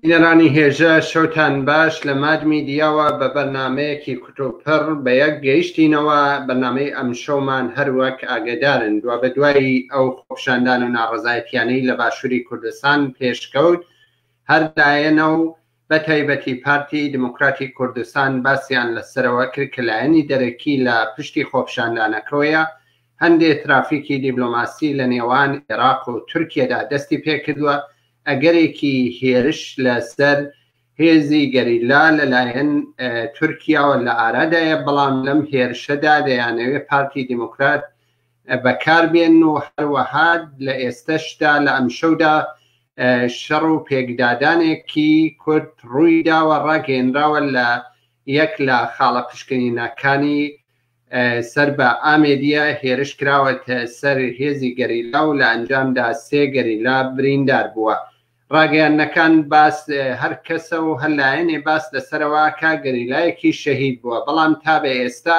بینەرانی هێژا شەوتان باش لە ماد میدیاوە بە بەرنامەیەکی کوتوپڕ بە یەک گەیشتینەوە بەرنامەی ئەمشەومان هەر وەک ئاگەدارن دوابەدوای ئەو خۆپیشاندان و ناڕەزایەتیانەی لە باشوری کوردستان پێشکەوت هەر لایەنە و بە تایبەتی پارتی دیموکراتی کوردستان باسیان لە سەرەوە کرد کە لایەنی دەرەکی لە پشتی خۆپیشاندانەکەوەیە، هەندێ ترافیکی دیبلۆماسی لە نێوان ئێراق و تورکیەدا دەستی پێکردوە، ئەگەرێکی هێرش لە سەر هێزی گەریلا لە لایەن تورکیاوە لە ئارادایە، بەڵام لەم هێرشەدا دەیانەوێ پارتی دیموکرات بەکاربێن و هەروەها لە ئێستەشدا لە ئەمشەودا شەڕ و پێکدادانێکی کورد ڕوویداوە ڕاگەیەنراوە لە یەک لە خاڵە پشکنینەکانی سەر بە ئامێدیە هێرش کراوەتە سەر هێزی گەریلا و لە ئەنجامدا سێ گەریلا بریندار بووە ڕاگەیانەکان باس هەر کەسە و هەر لایەنێ باس لەسەرەوەکە گەریلایەکی شەهید بووە بەڵام تا بە ئێستا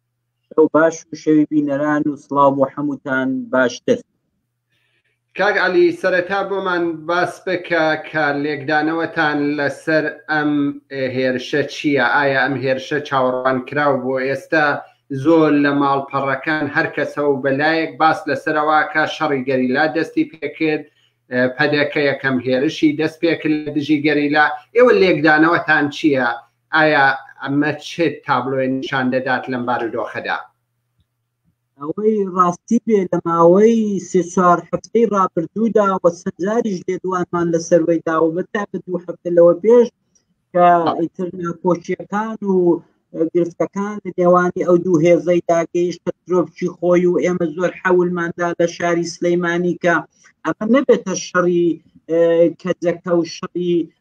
شەو باش و شەوی بینەران و سڵاو بۆ حەمووتان باشتر. کاک عەلی سەرەتا بۆمان باس بکە کە لێکدانەوەتان لەسەر ئەم هێرشە چییە؟ ئایا ئەم هێرشە چاوەڕوانکراو بوو؟ ئێستا زۆر لە ماڵپەڕەکان هەر کەسە و بە لایەک باس لەسەرەوە ئەکا شەڕی گەریلا دەستی پێکرد، پەدەکە یەکەم هێرشی دەستپێکرد لە دژی گەریلا، ئێوە لێکدانەوەتان چییە ئایا ئەمە چ تابلۆیە نیشان دەدات لەم بارودۆخەدا؟ ئەوەی ڕاستی بێ لە ماوەی سێ چوار هەفتەی ڕابردوودا وە چەند جاریش لێدوانمان لەسەروەی داوە بە تاکە دوو هەفتە لەوە پێش کە ئیتر ناکۆکیەکان و گرفتەکان لە نێوانی ئەو دوو هێزەی داگەیشتە ترۆپچی خۆی و ئێمە زۆر حەولماندا لە شاری سلەیمانی کە ئەمە نەبێتە شەڕی کەجەکە و شەڕی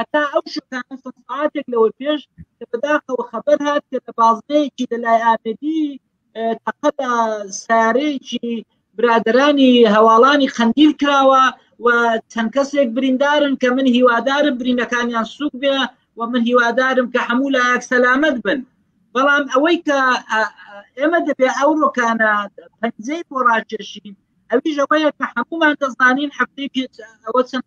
هەتا ئەو شوێنانە چەند سەعاتێک لەوە پێش کە بەداخەوە خەبەر هات کە لە بازنەیەکی لەلای ئامێدی تەقە لە سارەیەکی برادرانی هەواڵانی قەندیل کراوە و چەند کەسێک بریندارن کە من هیوادارم برینەکانیان سوک بێ و من هیوادارم کە هەموو لایەک سەلامت بن بەڵام ئەوەی کە ئێمە دەبێ ئەو ڕۆکانە پەنجەی بۆ ڕاکێشین ئەویش ئەوەیە کە هەمومان دەزانین هەفتەی پێ ئەوە چەند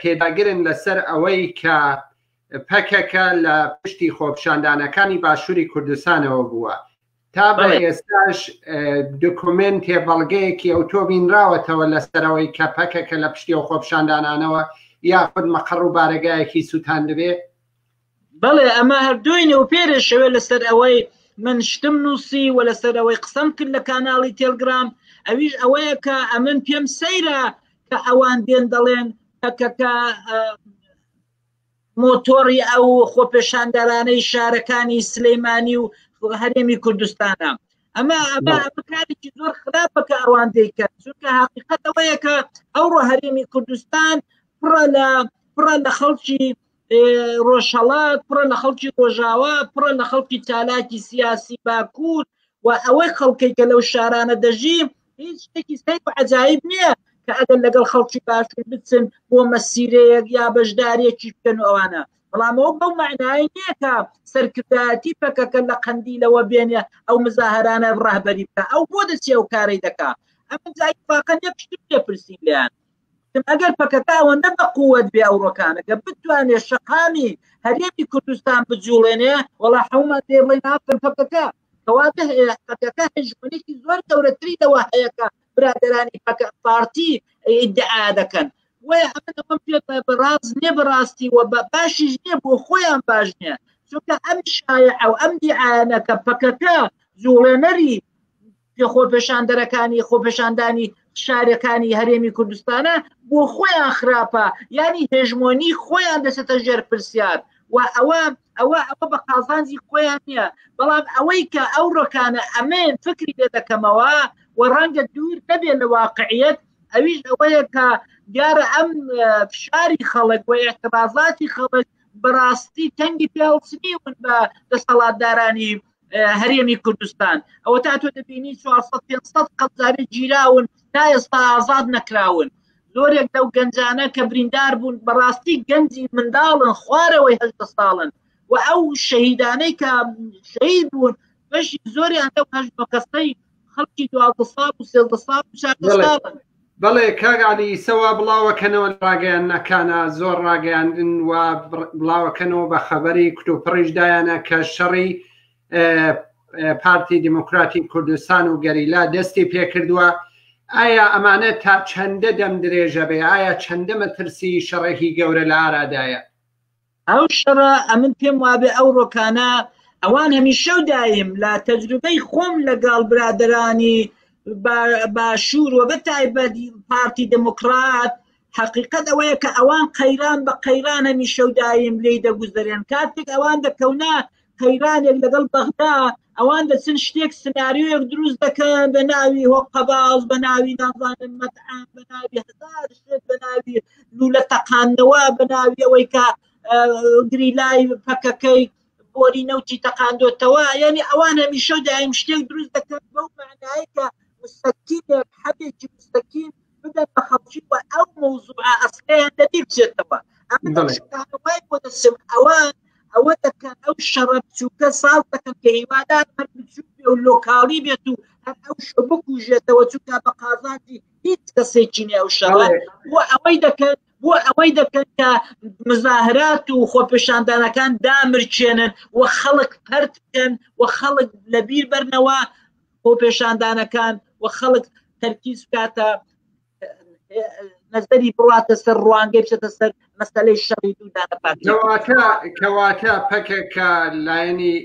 پێداگرن لەسەر ئەوەی کە پەکەکە لە پشتی خۆپشاندانەکانی باشووری کوردستانەوە بووە تا بە ئێستاش دکمنتێ بەڵگەیەکی ئەو تۆ بینراوەتەوە لەسەرەوەی کە پەکەکە لە پشتی و خۆپشاندانانەوە یاخود مەقڕ و بارەگایەکی سووتان دەبێت بەڵێ ئەمە هەر دوی نێوپێرێ شەوێ لەسەر ئەوەی من شتم نووسی و لەسەر ئەوەی قسەم کرد لە کاناڵی تێلگرام ئەویش ئەوەیە کە ئەمن پێم سەیرە کە ئەوان دێن دەڵێن پەکەکە مۆتۆری ئەو خۆپێشاندەرانەی شارەکانی سلەیمانی و هەرێمی کوردستانە ئەمە ئەمە کارێکی زۆر خراپە کە ئەوان دەیکەن چونکە حقیقەتەوەیەکە ئەوڕۆ هەرێمی کوردستان پڕە لە پڕە لە خەڵکی ڕۆژهەڵات پڕە لە خەڵکی ڕۆژاوا پڕە لە خەڵکی چالاکی سیاسی باکوور و ئەوەی خەڵکەی کە لەو شارانە دەژی هیچ شتێکی سەیر و عجایب نییە کە ئەگەر لەگەڵ خەڵکی باشوور بچن بۆ مەسیرەیەک یا بەشدارێکی بکەن و ئەوانە بەڵامەوە بەو معنای نییە کە سەرکردایەتی پەکەکە لە قەندیلەوە بێنێ ئەو مزاهرانە ڕهبەری بکە ئەو بۆ دەچێ و کارەی دەکا ئەمە جای فاقە نێ پشتم لێ پرسین لێیان گوتم ئەگەر پەکەکە ئەوەندە بەقووەت بێ ئەوڕۆکانە کە بتوانێ شەقامی هەرێمی کوردستان بجوڵێنێ وەڵا حومەت دێ بڵێ ناکەن پەکەکە کەواتە پەکەکە هەژمونێکی زۆر گەورەتری لەوە هەیەکە برادرانی پەکە پارتی ئیدعا دەکەن وای ئەمن ئەمەم پێ بەڕاز نێ بەڕاستی و بە باشیش نییە بۆ خۆیان باش نییە چونکە ئەم شایە ئەو ئەم دیعاەکە پەکەکە جوڵێنەری پێ خۆپێشاندەرەکانی خۆپێشاندانی شارەکانی هەرێمی کوردستانە بۆ خۆیان خراپە ینی هێژمۆنی خۆیان دەسێتە ژێر پرسیار و ئەوە ئەوە ئەوە بە قازانجی خۆیان نییە بەڵام ئەوەی کە ئەو ڕۆکانە ئەمێن فکری لێ دەکەمەوە و ڕەنگە دوور نەبێ لە واقعیت ئەویش ئەوەیە کە دیارە ئەم فشاری خەڵک و اعتبازاتی خەڵک بەڕاستی تەنگی پیاوسنی ون بە دەسەڵاتدارانی هەرێمی کوردستان ئەوە تا تۆ دەبینی 400 قەزاری گیراون تا ئێستا ئازاد نەکراون زۆرێک لەو گەنجانە کە بریندار بوون بەڕاستی گەنجی منداڵن خوارەوەی هەشدە ساڵن و ئەو شەهیدانەی کە شەید بوون بەشی زۆریان لەو هەشتۆ کەسەی خەڵکی دوازدە ساڵ و سێزدە ساڵ و چاردە بەڵێ. ساڵن بەڵێ کاک علی سەوا بڵاوەکەنەوە ڕاگەیاننەکانە زۆر ڕاگەیاندن و بڕ- بڵاوەکەنەوە بە خەبەری کتوپڕیش دایانە کە شەڕی ئە، ئە، پارتی دیموکراتی کوردستان و گەریلا دەستی پێکردووە ئایا ئەمانە تا چەندە دەم درێژە بێ ئایا چەندە مەترسی شەڕێکی گەورە لە ئارادایە ئەو شەڕە ئەمن پێم وابێ ئەو ڕۆکانە ئەوان هەمیشەو دایم لە تەجروبەی خۆم لەگەڵ برادرانی باشوور و بە تایبەت پارتی دموکرات حقیقت ئەوەیە کە ئەوان قەیران بە قەیرانە میشەودایم لی دەگوزەرێن کاتێک ئەوان دەکەونە قەیرانێک لەگەڵ بەغدا ئەوان دەچن شتێک سناریۆیەک دروست دەکەن بە ناوی هۆ قەباز بە ناوی نازانن مەتعام بە ناوی هزار شتێک بە ناوی لولە تەقانەوە بە ناوی ئەوەی کە گریلای پەکەکەی بۆری نەوتی تەقاندۆتەوە یعنی ئەوان هەمیشە دایم شتێک دروست دەکەن بەو معنایکە مستەکیێک حەبێکی مستەکیم بدەن بە خەڵکی و ئەو مەوزوعە ئەسلیان لەبیر بچێتەوە ئەمن دەڵێ. شتانە وای بۆ دەچم ئەوان ئەوە دەکەن ئەو شەڕە بچووکە ساز دەکەن کە هیوادار هەر بچووک بێ و لۆکاڵی بێت و هەر ئەو شە بکوژێتەوە چونکە بە قازانجی هیچ کەسێکی نێ ئەو شەڕە بەڵێ. بۆ ئەوەی دەکەن بۆ ئەوەی دەکەن کە مزاهرات و خۆپێشاندانەکان دامرکێنن و خەڵک پەرت بکەن و خەڵک لەبیر بەرنەوە خۆپێشاندانەکان و خەڵک تەرکیز بکاتە نەزەری بڕاتە سەر ڕوانگەی بچێتە سەر مەسلەی شەڕی دوودانە پارتکەواتە کەواتە پەکەکە لایەنی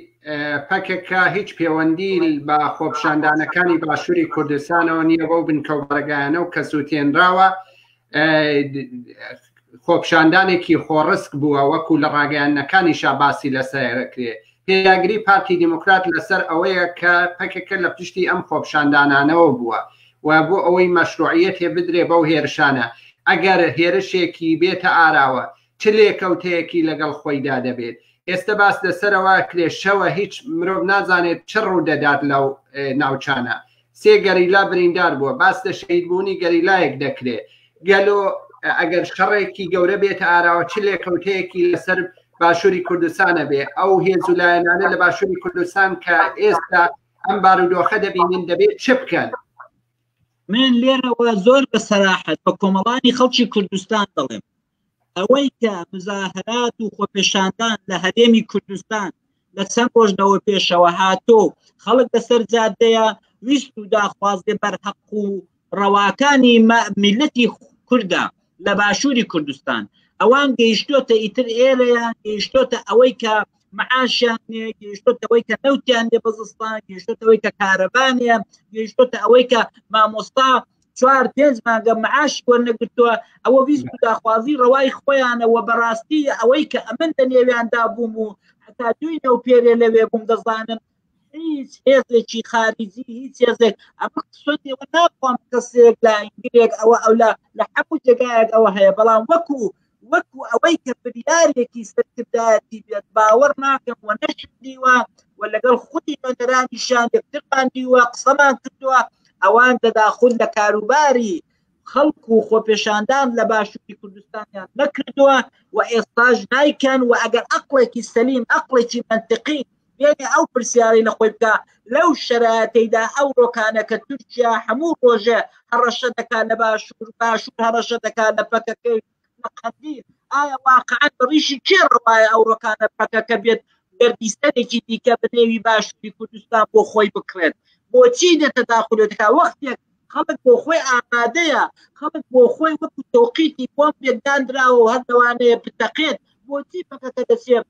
پەکەکە هیچ پەیوەندی بە خۆپشاندانەکانی باشووری کوردستانەوە نییە بەو بنکەوبارەگایانە و کە سووتێنراوە خۆپشاندانێکی خۆڕسک بووە وەکو لە ڕاگەیانەکانی شاباسی لەسەرکرێ پێداگری پارتی دیموکرات لەسەر ئەوەیە کە پەکەکە لە پشتی ئەم خۆپشاندانانەوە بووە و بۆ ئەوەی مەشروعیت هێ بدرێ بەو هێرشانە ئەگەر هێرشێکی بێتە ئاراوە چ لێکەوتەیەکی لەگەڵ خۆیدا دەبێت ئێستا باس لەسەرەوە کرێشەوە هیچ مرۆڤ نازانێت چ ڕوو دەدات لەو ناوچانە سێ گەریلا بریندار بووە باس لە شەهیدبوونی گەریلایەک دەکرێ گەلۆ ئەگەر شەڕێکی گەورە بێتە ئاراوە چ لێکەوتەیەکی لەسەر باشووری کوردستانە بێ ئەو هێز و لایەنانە لە باشووری کوردستان کە ئێستا ئەم بارودۆخە دەبینین دەبێت چ بکەن من لێرەوە زۆر بە سەراحەت بە کۆمەڵانی خەڵکی کوردستان دەڵێم ئەوەی کە مزاهرات و خۆپێشاندان لە هەرێمی کوردستان لە چەند ڕۆژنەوە پێشەوە هاتۆ خەڵک لەسەر جادەیە ویست و داخوازێ بەرهەق و ڕەواکانی میلەتی کوردە لە باشووری کوردستان ئەوان گەیشتۆتە ئیتر ئێرەیە گەیشتۆتە ئەوەی کە معاشیان نێ گەیشتۆتەوەی کە نەوتیان لێ بەزستان گەیشتۆتەوەی کە کارەبانە گەیشتۆتە ئەوەی کە مامۆستا چوار پێنج مانگە معاش وەرنەگرتووە ئەوە ویست داخوازی ڕەوای خۆیانەوە بەڕاستی ئەوەی کە ئەمن لە نێویاندا بووم و هەتا دوی نەو پێرێ لەوێ بووم دەزانم هیچ هێزێکی خارجی هیچ هێزێک ئەمە سۆتی ناخوام کەسێک لە ئینگلێک ئەوە ئەو لە لە حەموو جێگایەک ئەوە هەیە بەڵام وەکو وەکو ئەوەی کە بریارێکی سەرکردایەتی بێت باوەڕ ناکەم و نەشدیوە و لەگەڵ خودی نوێنەرانیشان یەکترمان دیوە قسەمان کردووە ئەوان دەداخود لە کاروباری خەڵک و خۆپێشاندان لە باشووری کوردستانیان نەکردووە و ئێستاش نایکەن و ئەگەر ئەقلێکی سەلیم ئەقلێکی منتقی بێ ئەو پرسیارەی لە خۆی بکە لەو شەراتەیدا ئەو ڕۆکانە کە تورکیا هەموو ڕۆژێ هەڕەشە دەکات لە باشوور باشوور هەڕەشە دەکات لە پەکەکەی لە قەندیل ئایا واقعا ڕیشی کێ ڕواایە ئەو ڕۆکانە پەکەکە بێت گەردیستەرێکی دیکە بنێوی باشووری کوردستان بۆ خۆی بکڕێت بۆچی دێتە داخولێتەکە وەختێک خەڵک بۆ خۆی ئامادەیە خەڵک بۆ خۆی وەکو تۆقیتی بۆم پێداندراوە و هەردەوانەیە بتەقێت بۆچی پەکەکە دەچێت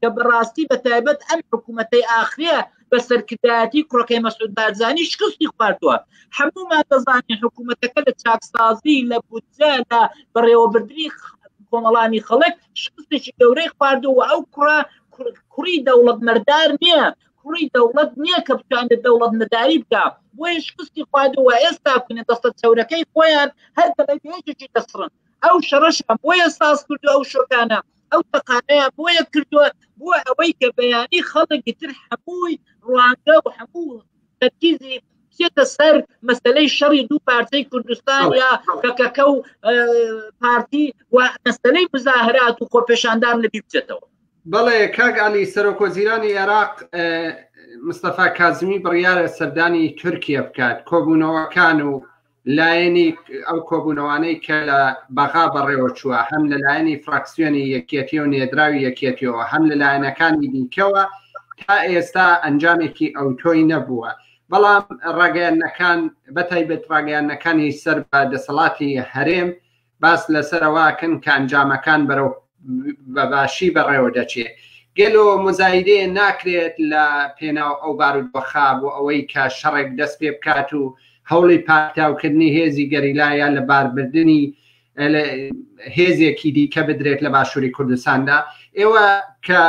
کە بەڕاستی بە تایبەت ئەم حکوومەتەی ئاخرە بە سەرکردایەتی کوڕەکەی مەسود بارزانانی شکستی خواردووە هەموومان دەزانین حکوومەتەکە لە چاکسازی لە بودجە لە بەڕێوەبردننی کۆمەڵانی خەڵک شکستێکی گەورەی خواردووە ئەو کوڕە کوڕی دەوڵەت مەردار نییە کوڕی دەوڵەت نییە کە بتوان لە دەوڵەت نەداری بکە بۆیە شکستی خواردووە ئێستا کونە دەستە چەورەکەی خۆیان هەر دەڵێ پێێکی دەسڕن ئەو شەڕەشان بۆیە ساز کردو ئەو شۆکانە ئەو تەقانەیە بۆیە کردووە بۆ ئەوەی کە بەیانی خەڵکی تر هەمووی ڕوانگە و هەموو تەرکیزی بچێتە سەر مەسلەی شەڕی دوو پارچەی کوردستان یا پەکەکە و پارتی و مەسلەی مزاهرات و خۆپێشاندان لەبی بچێتەوە بەڵێ کاک علی سەرۆکۆزیرانی عێراق مستەفا کازمی بڕیارە سەردانی تورکیا بکات کۆبوونەوەکان و لایەنی ئەو کۆبوونەوانەی کە لە بەغا بەڕێوە چووە هەم لە لایەنی فراکسیۆنی یەکێتی و نێدراوی یەکێتیەوە هەم لە لایەنەکانی دیکەوە تا ئێستا ئەنجامێکی ئەو تۆی نەبووە بەڵام ڕاگەیانەکان بەتایبێت ڕاگەیانەکانی سەر بە دەسەڵاتی هەرێم باس لەسەر ئەوەکەن کە ئەنجامەکان بەرەو بەباشی بەڕێوە دەچێ گەلۆ مزایدەیە ناکرێت لە پێناو ئەو بارودۆخا بۆ ئەوەی کە شەڕێک دەست پێ بکات و هەوڵی پاکتاوکردنی هێزی گەریلایە لە باربردنی هێزێکی دیکە بدرێت لە باشووری کوردستاندا ئێوە کە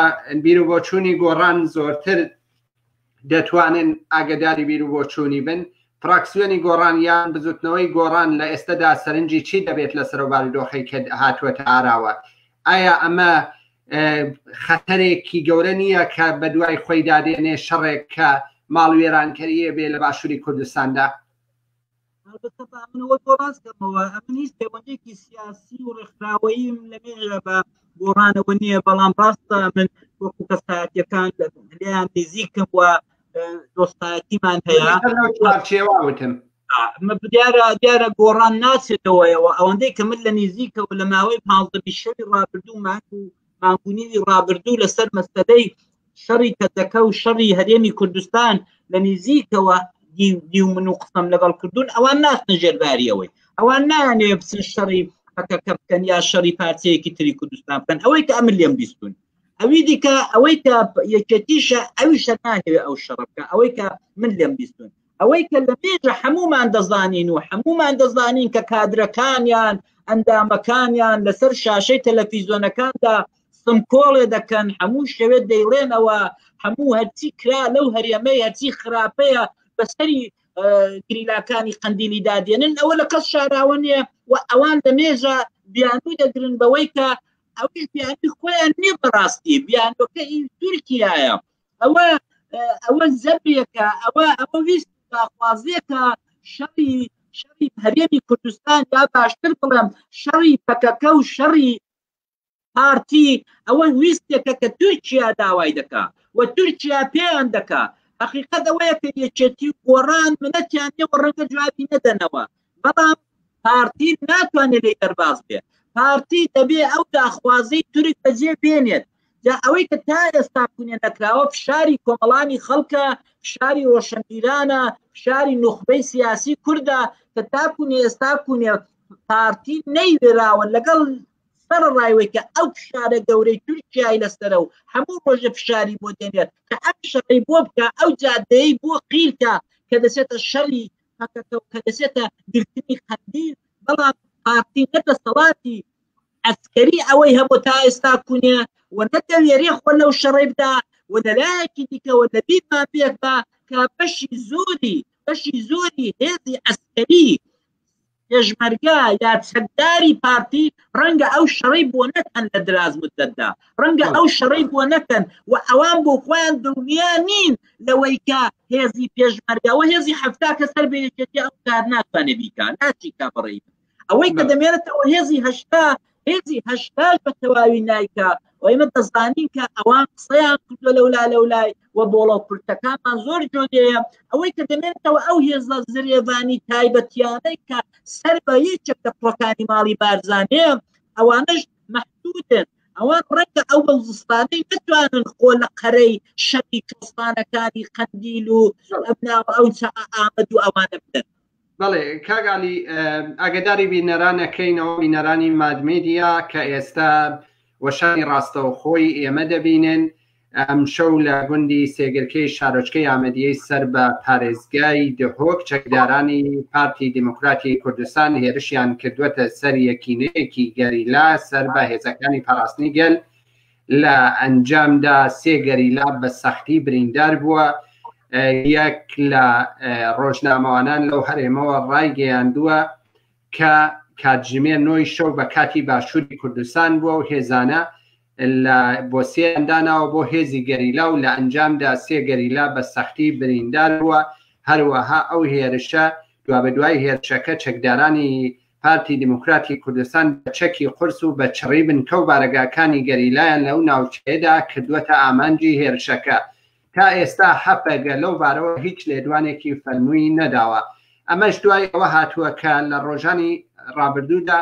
بیرو بۆچوونی گۆڕان زۆرتر دەتوانن ئاگەداری بیرو بۆچوونی بن، فراکسیۆنی گۆڕان یان بزوتنەوەی گۆڕان لە ئێستەدا سەرنجی چی دەبێت لەسەرو بارودۆخەی کە هاتووەتە ئاراوە؟ ئایا ئەمە خەتەرێکی گەورە نییە کە بەدوای خۆیدا دێنێ شەڕێک کە ماڵوێرانکەریێ بێ لە باشوری کوردستاندا؟ هەڵبەتە با من ئەوە بۆ باس کەمەوە ئەمن هیچ پەیوەندێکی سیاسی و ڕێکخراوەییم لەمێژە بە گۆڕانەوە نییە بەڵام ڕاستە من وەکو کەسایەتەکان لەیان نزیکم وە دۆستایەتیمان هەیە چێواوتم دیارە دیارە گۆڕان ناچێتەوەیەوە ئەوەندەی کە من لە نزیکەوە لە ماوەی پازدە بیشەوی ڕابردوو ماک و مانگونیوی ڕابردوو لەسەر مەسەدەی شەڕی کەتەکە و شەڕی هەرێمی کوردستان لە نزیکەوە دیو من و قسەم لەگەڵ کردوون ئەوان ناستە ژێرباریەوەی ئەوان نانێ بچن شەڕی پەکەکە بکەن یا شەڕی پارچەیەکی تری کوردستان بکەن ئەوەی کە ئەمن لێم بیستون ئەوی دیکە ئەوەی کە یەکێتیشە ئەوی شەنانێ ئەو شەڕەکە ئەوەی کە من لێم بیستون ئەوەی کە لە پێشە هەموومان دەزانین و هەموومان دەزانین کە کادرەکانیان ئەندامەکانیان لەسەر شاشەی تەلەفیزۆنەکاندا سمکۆڵێ دەکەن هەموو شەوێت دەیڵێنەوە هەموو هەرچی کرا لەو هەرێمەی هەرچی خراپەیە بەسەری گریلاکانی قندیلی دادێنن ئەوە لە کەس شاراوە نیە و ئەوان لە مێژە بیانوی دەگرن بەوەی کە ئەوش بیانی خۆیان نیە بەڕاستی بیانەکە تورکایە ئەوە ئەوە زەبێکە ئەوە ئەوە ویست داخوازیەکە شەڕی شەڕی هەرێمی کوردستان یا باشتر بڵێم شەڕی پەکەکە و شەڕی پارتی ئەوە ویستێکە کە تورکیا داوای دەکا و تورکیا پێیان دەکا حقیقت ئەوەیە کە یەکێتی گۆڕان منەتیان نێوە ڕەنگە جوابی نەدەنەوە بەڵام پارتی ناتوانێت لێی دەرباز بێت پارتی دەبێ ئەو داخوازی تورک بەجێ بێنێت جا ئەوەی کە تا ئێستا کونێ نەکراوە فشاری کۆمەڵانی خەڵکە فشاری ڕۆشنبیرانە فشاری نوخبەی سیاسی کووردە کە تاکوون ئێستا کونێ پارتی نەیوێراوە لەگەڵ سەر ڕایوەی کە ئەو فشارە گەورەی تورکیای لەسرە و هەموو ڕۆژە فشاری بۆ دێنێت کە ئەم شەڕی بۆ بکە ئەو جادەی بۆ قیلکە کە دەچێتە شەری پەکەکە و کە دەچێتە گرتنی قەندیل، بەڵام پارتی نە دەسەڵاتی عەسکەری ئەوەی هەبوو تا ئێستا کونیە و نە دەوێرێ خۆ لەو شەڕەی بدا و لە لایەکی دیکەوە لە بیرمان بێت بە کە بەشی زۆری بەشی زۆری هێزی عەسکەری پێشمەرگە یا چەکداری پارتی ڕەنگە ئەو شەڕەی بۆ نەکەن لە دراز مدەتدا ڕەنگە ئەو شەڕەی بۆ نەکەن و ئەوان بۆ خۆیان دڵنیا نین لەوەی کە هێزی پێشمەرگەوە هێزی هەفتا کە سەر بەیەکێتی ئەو کار ناتوانێ بیکە ناچیکا بڕی ئەوەی کە دەمێنێتەوە هێزی هەشتا هێزی هەشتاش بە تەواوی نایکا و ئێمە دەزانین کە ئەوان قسەیان کردو لەولا لەو لای و بۆڵە کورتەکانمان زۆر جۆدەیە ئەوەی کە دەمێنێتەوە ئەو هێزە زرێڤانی تایبەتیانەی کە سەر بە یەکێک لە پڕەکانی ماڵی بارزانەیە ئەوانش محدودن ئەوان ڕەنگە ئەو بەوزستانەی نتوانن خۆ لە قەرەی شەتی کەستانەکانی قەندیل و ئەبناوە ئەو چە ئامەد و ئەوانە بدەن بەڵێ کاک علی ئاگداری بینەران ئەکەینەوە بینەرانی مادمێدیا کە ئێستا وەشانی ڕاستەو خۆی ئێمە دەبینن ئەم شەو لە گوندی سێگرکەی شارۆچکەی ئامەدیەی سەر بە پارێزگای دهۆک چەکدارانی پارتی دیموکراتی کوردستان هێرشیان کردوەتە سەر یەکینەیەکی گەریلا سەر بە هێزەکانی پاراستنی گەل لە ئەنجامدا سێ گەریلا بە سەختی بریندار بووە یەک لە ڕۆژنامەوانان لەو هەرێمەوە ڕایگەیاندووە کە کاتژمێ نۆی شەو بە کاتی باشووری کوردستان بووە و هێزانە لە بۆ سێنداناوە بۆ هێزی گەریلا و لە ئەنجامدا سێ گەریلا بە سەختی بریندار بووە هەروەها ئەو هێرشە دوا بە دوای هێرشەکە چەکدارانی پارتی دیموکراتی کوردستان بە چەکی قورس و بە چڕی بنکە و بارەگاکانی گەریلایان لەو ناوچەیەدا کردووەتە ئامانجی هێرشەکە. تا ئێستا هەپەگە لەو بارەوە هیچ لێدوانێکی فەرمووی نەداوە. ئەمەش دوای ئەوە هاتووە کە لە ڕۆژانی ڕابردوودا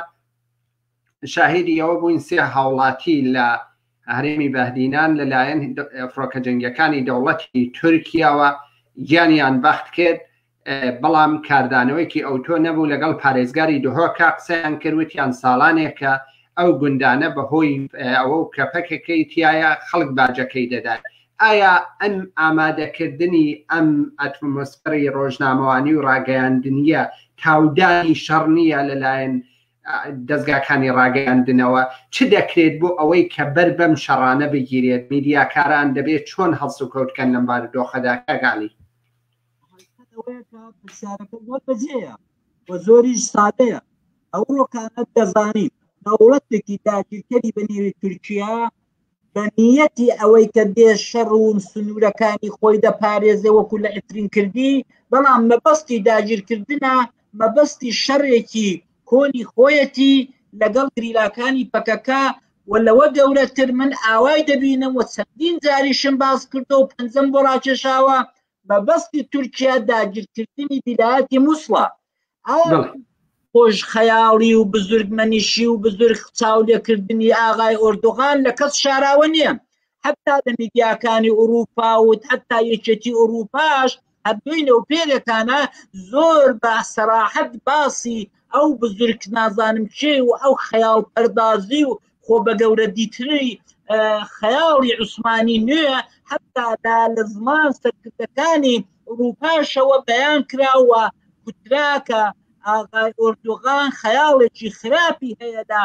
شاهیدی ئەوە بووین سێ هاوڵاتی لە هەرێمی بەهدینان لەلایەن فڕۆکە جەنگییەکانی دەوڵەتی تورکیاوە گیانیان بەخت کرد بەڵام کاردانەوەیکی ئەوتۆ نەبوو لەگەڵ پارێزگاری دهۆکە قسەیان کرد وتیان ساڵانێکە ئەو گوندانە بەهۆی ئەوە و کەپەکەکەی تایە خەڵک باجەکەی دەدات ئایا ئەم ئامادەکردنی ئەم ئەتمۆسفەری ڕۆژنامەوانی و ڕاگەیاندنیە تاودانی شەڕ نییە لەلایەن دەستگاکانی ڕاگەیاندنەوە چ دەکرێت بۆ ئەوەی کە بەر بەم شەڕانە بگیرێت میدیاکاران دەبێت چۆن هەڵسوکەوتکەن لەم بارودۆخەدا کاگالی پرسیارەکە زۆر بەجێیە و زۆریش سادەیە ئەو ڕۆکانە دەزانین دەوڵەتێکی داگیرکەری بە نێوی تورکیا بە نیەتی ئەوەی کە دێ شەڕ و سنوورەکانی خۆی دەپارێزێ وەکو لە ئەترین کردی بەڵام مەبەستی داگیرکردە مەبەستی شەڕێکی کۆنی خۆیەتی لەگەڵ گریلاکانی پەکەکە و لەوە گەورەتر من ئاوای دەبینم و چەندین جاریشم باز کردو و پەنجەم بۆ ڕاکێشاوە مەبەستی تورکیا داگیرکردنی ویلایەتی مووسڵە خۆش خەیاڵی و بزرگمەنیشی و بزرگ چاو لێکردنی ئاغای ئۆردوغان لە کەس شاراوە نییە حتا لە میدیاکانی ئوروپا و حتا یەکێتی ئوروپاش هەردوینە و پێرێکانە زۆر بە سەراحەت باسی ئەو بزرگ نازانم چێ و ئەو خەیاڵ پەردازی و خۆ بە گەورە دیتری خەیاڵی عوسمانی نوێ حتا دا لە زمان سەرکردەکانی ئوروپاشەوە بەیان کراوە کوتراکە ئاغای ئۆردوغان خەیاڵێکی خراپی هەیە لە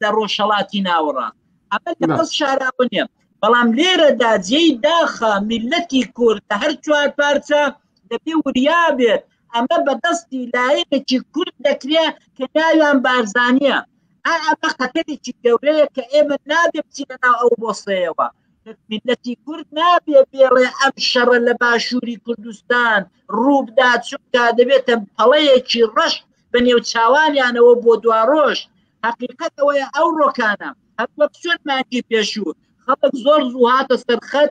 لە ڕۆژهڵاتی ناوەڕاست ئەمە لەقەس شاراوە نیە بەڵام لێرەدا جێی داخە میلەتی کورد هەر چوار پارچە دەبێ وریا بێت ئەمە بە دەستی لایەنێکی کورد دەکرێ کە ناویان بارزانیە ئا ئەمە خەتەرێکی گەورەیە کە ئێمە نابێ بچینە ناو ئەو بۆسەیەوە میلەتی کورد نابێ بێڵێ ئەم شەڕە لە باشووری کوردستان ڕووبدا چونکە دەبێتە پەڵەیەکی ڕەش بە نێو چاوانیانەوە بۆ دواڕۆژ حقیقەت ئەوەیە ئەو ڕۆکانە هەروەک چۆن مانگی پێشوو خەڵک زۆر زوو هاتە سەرخەت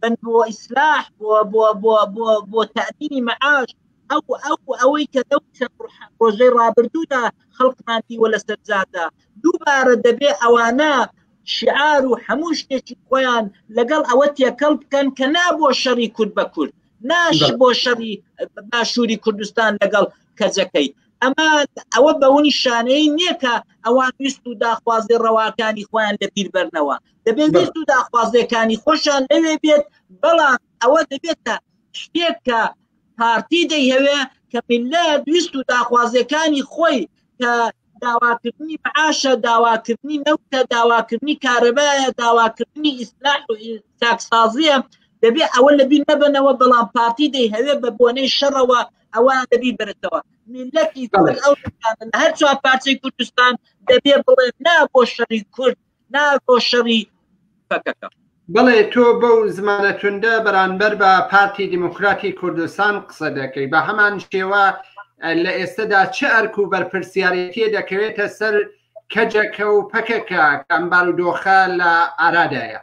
بن بۆ ئیسلاح بۆ بۆ بۆ بۆ بۆ تادینی مەعاش ئەو ئەو ئەوەی کە دەو ڕۆژەی ڕابردوودا خەڵکمان دیوە لە سەرجادا دووبارە دەبێ ئەوانە شعار و هەموو شتێکی خۆیان لەگەڵ ئەوە تێکەڵ بکەن کە نا بۆ شەڕی کورد بە کورد ناش بۆ شەڕی باشووری کوردستان لەگەڵ کەجەکەی ئەمە ئەوە بەونی شانەی نییە کە ئەوان ویست و داخوازی ڕەواکانی خۆیان لە بیربەرنەوە دەبێت ویست و داخوازیەکانی خۆشان لەوێ بێت بەڵام ئەوە دەبێتە شتێک کە پارتی دەیهەوێ کە میلەت ویست و داخوازیەکانی خۆی کە داواکردنی معاشە داواکردنی نەوتە داواکردنی کارەبایە داواکردنی ئیسلاح و تاکسازیە دەبێ ئەوە لە بیر نەبنەوە بەڵام پارتی دەی هەوێ بە بۆنەی شەڕەوە ئەوە دەبی برێتەوە میلەتی ئەو هەر چوار پارچەی کوردستان دەبێ بڵێ نا بۆ شەری کورد ناکۆ شەڕی پەکەکە. بەڵێ تۆ بەو زمانە توندە بەرانبەر بە پارتی دیموکراتی کوردستان قسە دەکەی بە هەمان شێوە لە ئێستەدا چ ئەرک و بەرپرسیارەتیە دەکەوێتە سەر کەجەکە و پەکەکە کەم بارودۆخە لە ئارادایە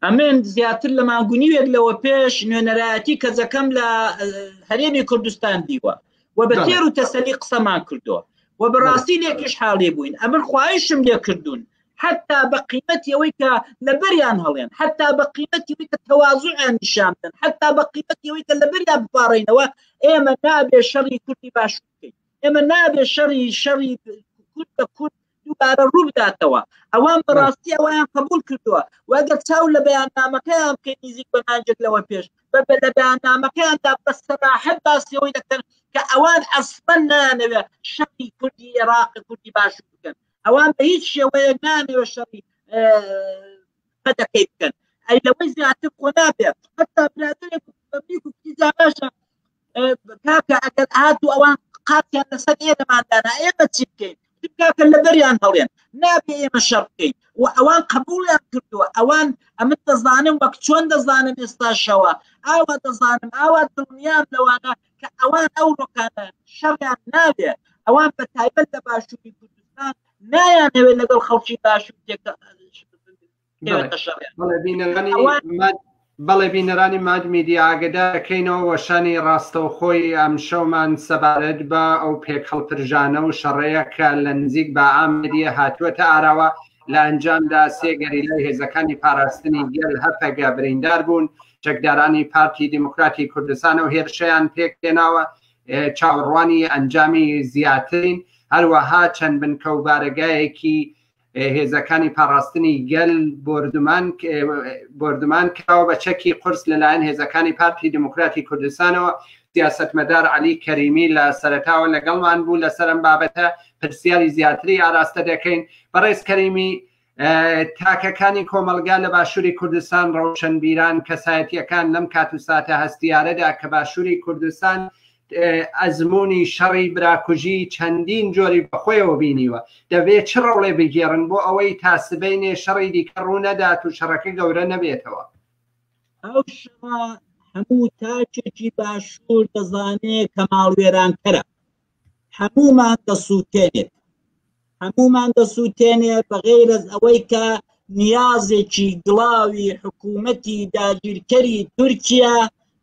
ئەمن زیاتر لە مانگ و نیوێک لەوە پێش نوێنەرایەتی کەجەکەم لە هەرێمی کوردستان دیوە و بە تێر و تەسەلی قسەمان کردووە و بەڕاستی لێکیش حاڵی بووین ئەمن خواهشم لێ کردوون حتا بە قیمەتی ئەوەی کە لەبەریان هەڵێن حتا بە قیمەتی کە تەوازوعیان نیشان بدەن حتا بە قیمەتی ئەوەی کە لەبەریا بپارڕینەوە ئێمە نابێ شەڕی کوردی باش بکەین ئێمە نابێ شەڕی شەڕی کورد بە کورد دووبارە ڕووبداتەوە ئەوان بەڕاستی ئەویان قبول کردووە وەگەر چاو لە بەیاننامەکەیان بکەین نزیک بە مانجێک لەوە پێش بە لە بەیاننامەکەیاندا بە سەراحەت باسیەوەی دەکەن کە ئەوان ئەسپەن نانەوێ شەقی کوردی عێراق کوردی باش بکەن ئەوان بە هیچ شێوەیە نانەوێ شەڕی قەدەکەی بکەن ئەی لەوەی زیاتر خۆ نابێت حتا برادێک بەبیک و کیزاناشە کاکە ئەگەر هاتوو ئەوان قاتیان لەسەر ئێرەماندانا ئێمە چی بکەین کاکە لەبەریان هەڵێن نابێ ئێمە شەڕ بکەین و ئەوان قبولیان کردووە ئەوان ئەمن دەزانم وەک چۆن دەزانم ئێستاشەوە ئاوا دەزانم ئاوا دڵنیام لەوانە کە ئەوان ئەو ڕۆکانە شەڕیان نابێ ئەوان بە تایبەت لە باشووری کوردستان نایانەوێت لەگەڵ خەڵکی باشوور بەڵێ بینەرانی ماد میدیا ئاگدا دەکەینەوە وەشانی ڕاستەوخۆی ئەم شەومان سەبارەت بە ئەو پێک هەڵپرژانە و شەڕەیە کە لە نزیک بە ئامدیە هاتووەتە ئاراوە لە ئەنجامدا سێگەری لای هێزەکانی پاراستنی گەل هەپەگە بریندار بوون چەکدارانی پارتی دیموکراتی کوردستان و هێرشیان پێک هێناوە چاوەڕوانی ئەنجامی زیاترین هەروەها چەند بنکە و بارەگایەکی هێزەکانی پاراستنی گەل بردمان بردمان کراوە بە چەکی قرس لەلایەن هێزەکانی پارتی دموکراتی کوردستانەوە سیاستمەدار علی کەریمی لە سەرتاوە لەگەڵمان بوو لەسەرم بابەتە پرسیاری زیاتری ئاراستە دەکەین بەڕێز کەریمی تاکەکانی کۆمەلگا لە باشووری کوردستان ڕەوشنبیران کەسایەتیەکان لەم کات و ساتە هەستیارەدا کە باشووری کوردستان ئەزموونی شەڕی براکوژی چەندین جۆری بەخۆیەوە بینیوە، دەبێت چ ڕۆڵێ بگێڕن بۆ ئەوەی تا سبەینێ شەڕی دیکە ڕوو نەدات و شەڕەکە گەورە نەبێتەوە؟ ئەو شەڕە هەموو تاکێکی باشوور دەزانێت کە ماڵوێرانکەرە، هەموومان دەسووتێنێت، هەموومان دەسووتێنێ بەغەیرەز ئەوەی کە نیازێکی گڵاوی حکوومەتی داگیرکەری تورکیا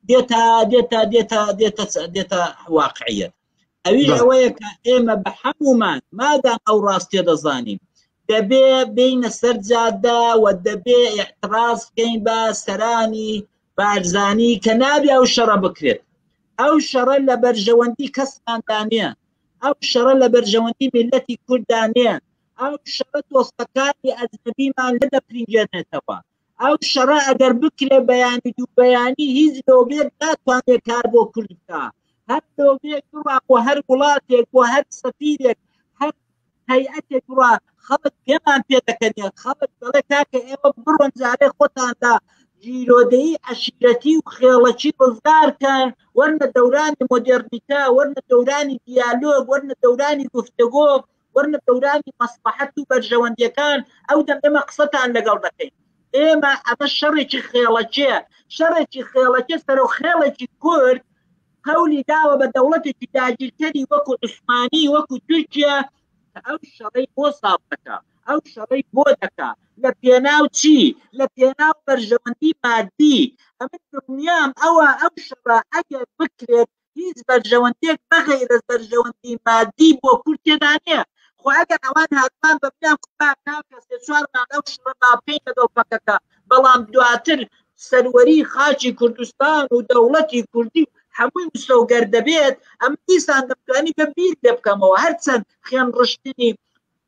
دێتە دێتە دێتە دێتە دێتە واقعیت ئەویش ئەوەیە کە ئێمە بە حەمومان مادام ئەو ڕاستێ دەزانین دەبێ بینە سەر جادە و دەبێ احتراز بکەین بە سەرانی بارزانی کە نابێ ئەو شەڕە بکرێت ئەو شەڕە لە بەرژەوەندی کەسماندانە ئەو شەڕە لە بەرژەوەندی میللەتی کورددا نییە، ئەو شەڕە تۆسپەکانی ئەجنەبیمان نەدەپرینگێنێتەوە، ئەو شەڕە ئەگەر بکرێ بەیانی دوو بەیانی هیچ لۆبیەک ناتوانێ کار بۆ کورد بکا، هەر لۆبیەک بڕوا بۆ هەر وڵاتێک، بۆ هەر سەفیرێک، هەر هەیئەتێک بڕە خەڵک پێمان پێ دەکەنێت خەڵک دەڵێ کاکە ئێوە بڕۆن جارێ خۆتاندا گیرۆدەی عشیرەتی و خێڵەکی ڕزگارکەن وەرنە دەورانی مۆدێرنیتە وەرنە دەورانی دیالۆگ وەرنە دەورانی گفتگۆ وەرنە دەورانی مەسلحەت و بەرژەوەندیەکان ئەو دەم ئێمە قسەتان لەگەڵ دەکەین ئێمە ئەمە شەڕێکی خێڵەکێ شەڕێکی خێڵەکێ سەرۆ خێڵێکی کورد هەولی داوە بە دەوڵەتێکی داگیرکەری وەکو عوسمانی وەکو تورکیا ئەو شەڕی بۆ ساف دەکا ئەو شەڕی بۆ دەکا لە پێناو چی لە پێناو بەرژەوەندی مادی ئەمن دڵنیام ئەوە ئەو شەڕە ئەگەر بکرێت هیچ بەرژەوەندێک بەغیرە بەرژەوەندی مادی بۆ کورد تێدا نییە خۆ ئەگەر ئەوان هاتمان بە پێیان کوبار ناکەسێ چوارمان ئەو شڕە با بکەین لەگەڵ پەکەکە بەڵام دواتر سەروەری خاچی کوردستان و دەوڵەتی کوردی و هەمووی مسۆگەر دەبێت ئەم دیسان دەمتوانی بە بیر لێ بکەمەوە هەرچەند خوێن ڕشتنی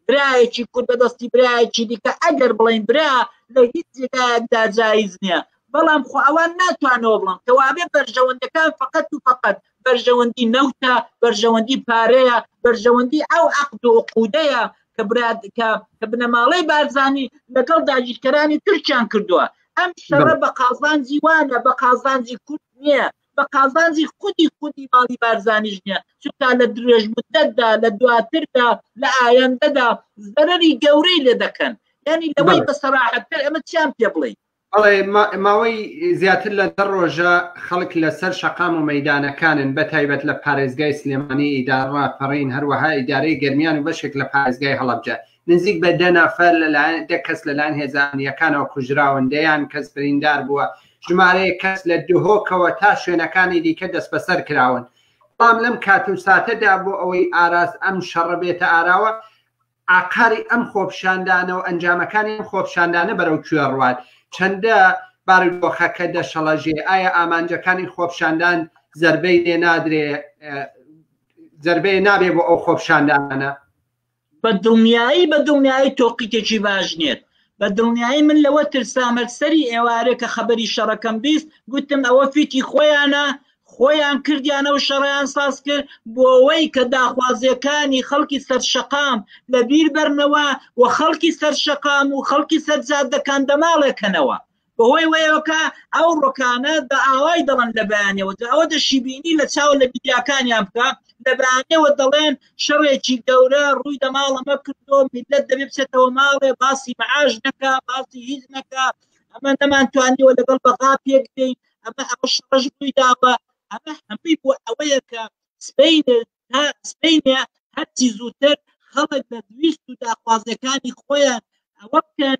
برایەکی کورد بەدەستی برایەکی دیکە ئەگەر بڵین برا لە هیچ جێگایەکدا جایز نییە بەڵام خۆ ئەوان ناتوانەوە بڵم کەوابێ بەرژەوەندەکان فقط و فقط بەرژەوەندی نەوتە بەرژەوەندی پارەیە بەرژەوەندی ئەو عقد و قودەیە کە براد کە کە بنەماڵەی بارزانانی لەگەڵ داگیرکەرانی تورکیان کردووە ئەم شەڕە بە قازانجی وانە بە قازانجی کورد نییە بە قازانجی خودی خودی ماڵی بارزانیش نییە چونکە لە درێژ مدەتدا لە دواتردا لە ئایەندەدا زەرری گەورەی لێ دەکەن ینی لەوەی بە سەراحەتتر ئەمە چیان پێ بڵێیت ئەڵێ ماوەی زیاتر لە دە ڕۆژە خەڵک لەسەر شەقام و مەدانەکانن بە تایبەت لە پارێزگای سلێمانی ئیدارڕا پەڕین هەروەها ئیدارەی گەرمیان و بەشێک لە پارێزگای هەڵەبجە نزیک بە دە نەفەر لەلایەن دە کەس لەلایەن هێزانیەکانەوە کوژراون دەیان کەس بریندار بووە ژمارەیە کەس لە دهۆکەوە تا شوێنەکانی دیکە دەست بەسەر کراون بەڵام لەم کات و ساتەدا بۆ ئەوەی ئاراز ئەم شەڕە بێتە ئاراوە ئاقاری ئەم خۆپیشاندانە و ئەنجامەکانی ئەم خۆپیشاندانە بەرەو کوێ ڕوات؟ چەندە بارودۆخەکە دەشەڵەژێ؟ ئایا ئامانجەکانی خۆپیشاندان زەربەی لێ نادرێ زەربەیە نابێ بۆ ئەو خۆپیشاندانە؟ بە دڵنیایی بە دڵنیایی تۆقیتێکی باش نێت بە دڵنیایی من لەوە ترسامەک سەری ئێوارێ کە خەبەری شەڕەکەم بیست گوتم ئەوە فیتی خۆیانە خۆیان کردیانە و شەڕیان ساز کرد بۆەوەی کە داخوازیەکانی خەڵکی سەرشەقام لەبیر بەرنەوە و خەڵکی سەرشەقام و خەڵکی سەرجادەکان دەماڵێکەنەوە بەهۆی وەیەوەکە ئەو ڕۆکانە بە ئاوای دەڵن لە بەیانەوە ئەوە دەشیبینی لە چاو لە میدیاکانیان بکە لە بەیانەوە دەڵێن شەڕێکی گەورە ڕووی دەماڵەمە کردۆ میلەت دەبێ بچێتەوە ماڵێ باسی معاش نەکە باسی هیچ نەکە ئەمە نەمانتوانیەوە لەگەڵ بەغا پێک دەین ئەمە ئەوە شەڕش ڕووی داوە ئەمە هەمووی بۆ ئەوەیە کە سپین تا سپینە هەرچی زووتر خەڵک لە دویست و داخوازەکانی خۆیان ئەوە بکەن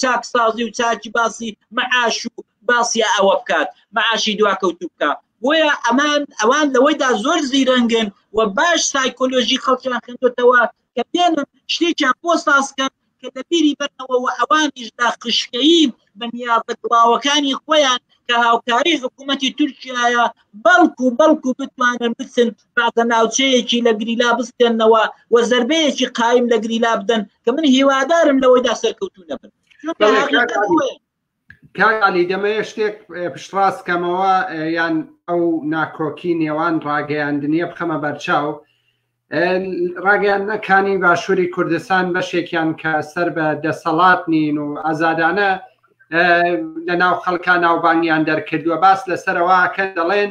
چاکسازی و چاکی باسی معاش و باسی ئەوە بکات معاشی دواکەوتو بکە بۆیە ئەمان ئەوان لەوەیدا زۆر زیرەنگن و باش سایکۆلۆژی خەڵکیان خوێندوتەوە کە پێنن شتێکیان بۆ سازکەن کە دەبیری بەرەوە و ئەوانیش دا خشکەیی بە نیازە گڵاوەکانی خۆیان کە هاوکاری حکوومەتی تورکایە بەڵکو بەڵکو بتوانن بچن کاتە ناوچەیەکی لە گریلا بستێنەوە و زربەیەکی قایم لە گریلا بدەن کە من هیوادارم لەوەیدا سەرکەوتو نەبن کالی دەمەیە شتێک پشتڕاست کەمەوە یان ئەو ناکۆکی نێوان ڕاگەیاندنیە بخەمە بەرچاو ڕاگەیانەکانی باشووری کوردستان بەشێکیان کە سەر بە دەسەڵات نین و ئازادانە لە ناو خەڵکان ناوبانیان دەرکردووە باس لەسەرەوەکە دەڵێن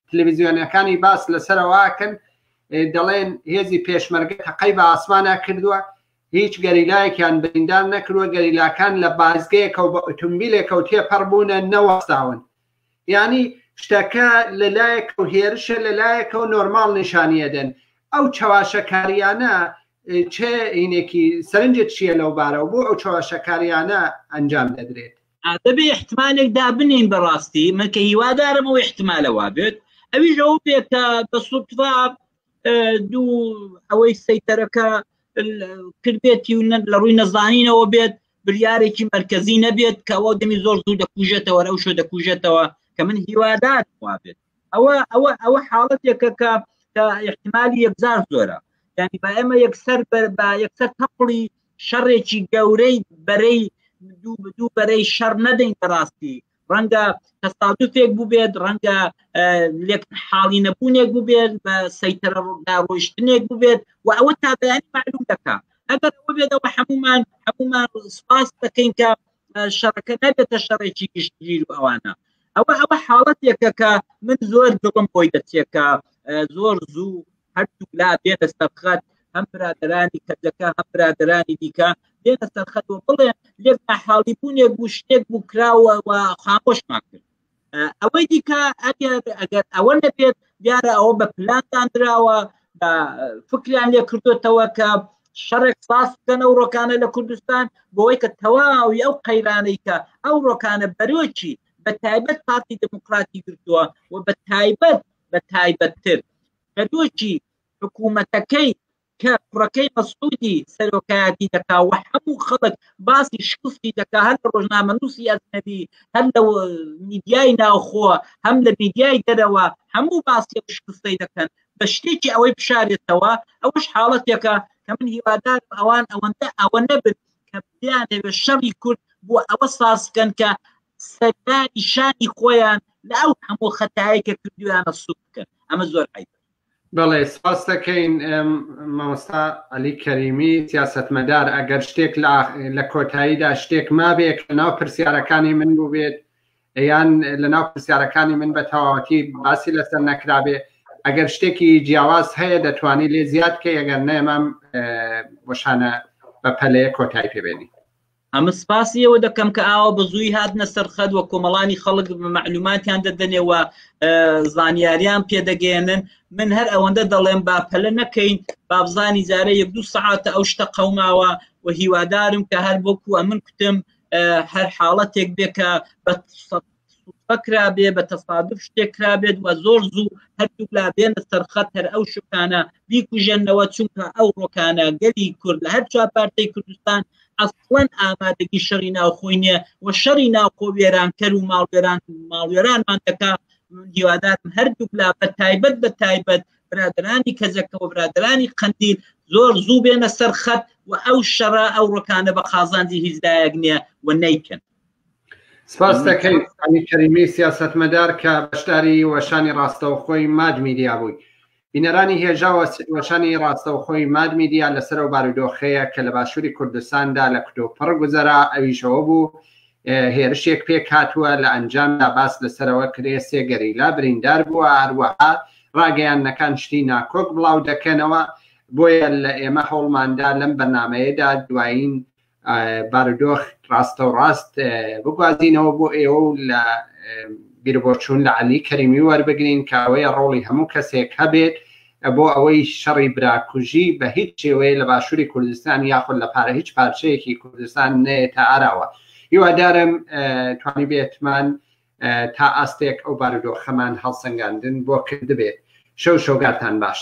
تلویزیۆنەکانی باس لەسەرەوەکەن دەڵێن هێزی پێشمەرگە تەقەی بە ئاسمانا کردووە هیچ گەریلایەکیان بریندار نەکرووە گەریلاکان لە بازگەیەکە و بە ئۆتومبیلێکە و تێپەڕ بوونە نەوەستاون ینی شتەکە لەلایەک و هێرشە لەلایەکە و نۆرمال نیشانیەدەن ئەو چەواشەکاریانە چێ هینێکی سەرنجت چییە لەو بارەوە بۆ ئەو چەواشەکاریانە ئەنجام دەدرێت ئادەبێ احتمالێک دابنین بەڕاستی من کە هیوادارم و احتمالە وابێت ئەویش ئەو بێت کە بە سوتفا دوو ئەوەی سەیتەرەکە کردێتی و لە ڕووی نەزانینەوە بێت بریارێکی مرکزی نەبێت کەەوە دەمی زۆر زوو دەکوژێتەوە ئەو شو دەکوژێتەوە کە من هیوادار وابێت ئەوە ئەوە ئەوە حاڵەتێکە کە کە احتمالی یەکجار زۆرە یعنی با ئێمە یەکسەر بە یەکسەر تەپڵی شەڕێکی گەورەی بەرەی دوو دوو بەرەی شەڕ نەدەین بەڕاستی ڕەنگە تەستادوفێک بووبێت ڕەنگە لێک حاڵی نەبوونێک بووبێت بە سەیتەرە ڕۆشتنێک بووبێت و ئەوە تا بەیان معلوم دەکە ئەگەر ئەوە بێتەوە هەمومان هەمومان سپاس دەکەین کە شەڕەکە نەبێتە شەڕێکی گشتگیر و ئەوانە ئەوە ئەوە حاڵەتێکە کە من زۆر دڵم بۆی دەچێکە زۆر زوو هەردوو لا بێتە سەبخەت هەم برادرانی کەجەکە هەم برادرانی دیکە بێتە سەرخەت و بڵێ لێک حاڵی بوونێک بوو شتێک بوو کراوە و خامۆشمان کرد ئەوەی دیکە ئەگەر ئەگەر ئەوە نەبێت دیارە ئەوە بە پلانتان دراوە بە فکریان لێ کردوێتەوە کە شەڕێک ساز بکەن ئەو ڕۆکانە لە کوردستان بۆی کە تەواوی ئەو قەیرانەی کە ئەو ڕۆکانە بەرۆکی بە تایبەت پارتی دموکراتی گرتووە و بە تایبەت بە تایبەتتر بەرۆکی حکوومەتەکەی کە کوڕەکەی مەسعودی سەرۆکایەتی دەکا و هەموو خەڵک باسی شکستی دەکا هەر لە ڕۆژنامە نووسی ئەزنەبی هەر لە میدیای ناوخۆ هەم لە میدیای دەرەوە هەموو باسی شکستەی دەکەن بە شتێکی ئەوەی بشارێتەوە ئەوەش حاڵەتێکە کە من هیوادارم ئەوان ئەوەندە ئەوە نەبن کە بیانەوێت شەڕی کورد بۆ ئەوە سازکەن کە سەردانی شانی خۆیان لە ئەو هەموو خەتایی کە کردویانە سوک بکەن ئەمە زۆر عیب بەڵێ سپاس دەکەین مامۆستا علی کەریمی سیاستمەدار ئەگەر شتێک لە کۆتاییدا شتێک مابێ کە ناو پرسیارەکانی من بووبێت یان لەناو پرسیارەکانی من بە تەواوەتی باسی لەسەر نەکرابێ ئەگەر شتێکی جیاواز هەیە دەتوانانی لێ زیاد کە ئەگەر نێمام بۆشانە بە پەلەیە کۆتایی پێبێنی ئەمە سپاسیەوە دەکەم کە ئاوە بە زووی هاتنە سەرخەت وە کۆمەڵانی خەڵک مەعلوماتیان دەدەنێ و زانیاریان پێدەگەێنن من هەر ئەوەندە دەڵێم با پەلە نەکەین بابزانی جارە یەک دوو سعاتە ئەو شتە قەوماوە و هیوادارم کە هەر بۆکووە من کوتم هەر حاڵەتێک بێ کە بە بەکرابێ بە تەفادف شتێکرابێت و زۆر زوو هەردوو لا بێنە سەرخەت هەر ئەو شکانە بیکوژێنەوە چونکە ئەو ڕۆکانە گەلی کورد لە هەر چوار پارتی کوردستان ئەسڵەن ئامادەگی شەڕی ناوخۆی نیە و شەڕی ناوخۆ وێرانکەر و ماڵوێران ماڵوێرانمان دەکات هیوادارم هەردوو لا بە تایبەت بە تایبەت برادرانی کەجەکەوە برادرانی قەندیل زۆر زوو بێنە سەر خەت و ئەو شەڕە ئەو ڕۆکانە بە قازانجی هیچ دایەک نییە و نیکن سپاس دەکەین ئەمی کەریمی سیاستمەدار کە بەشداری وەشانی ڕاستەوخۆی ماد میدیا بووی بینەرانی هێژا وەشانی ڕاستەوخۆی ماد میدیا لەسەر و بارودۆخەیە کە لە باشووری کوردستاندا لە کتۆپڕ گوزەرا ئەویشەوە بوو هێرشێک پێکهاتووە، لە ئەنجامدا باس لەسەرەوە کرێ سێ گەریلا بریندار بووە، هەروەها ڕاگەیاندنەکان شتی ناکۆک بڵاو دەکەنەوە، بۆیە لە ئێمە هەوڵماندا لەم بەرنامەیەدا دوایین بارودۆخ ڕاستەوڕاست بگوازینەوە بۆ ئێوە و لە بیربۆچوون لە عەلی کەریمی وەربگرین کە ئەوەیە ڕۆڵی هەموو کەسێک هەبێت بۆ ئەوەی شەڕی براکوژی بە هیچ شێوەیە لە باشووری کوردستان یاخود لە پارە هیچ پارچەیەکی کوردستان نێتە ئاراوە هیوادارم توانی بێتمان تا ئاستێک ئەو بارودۆخەمان هەڵسەنگاندن بۆ کردبێت شەو شۆگارتان باش.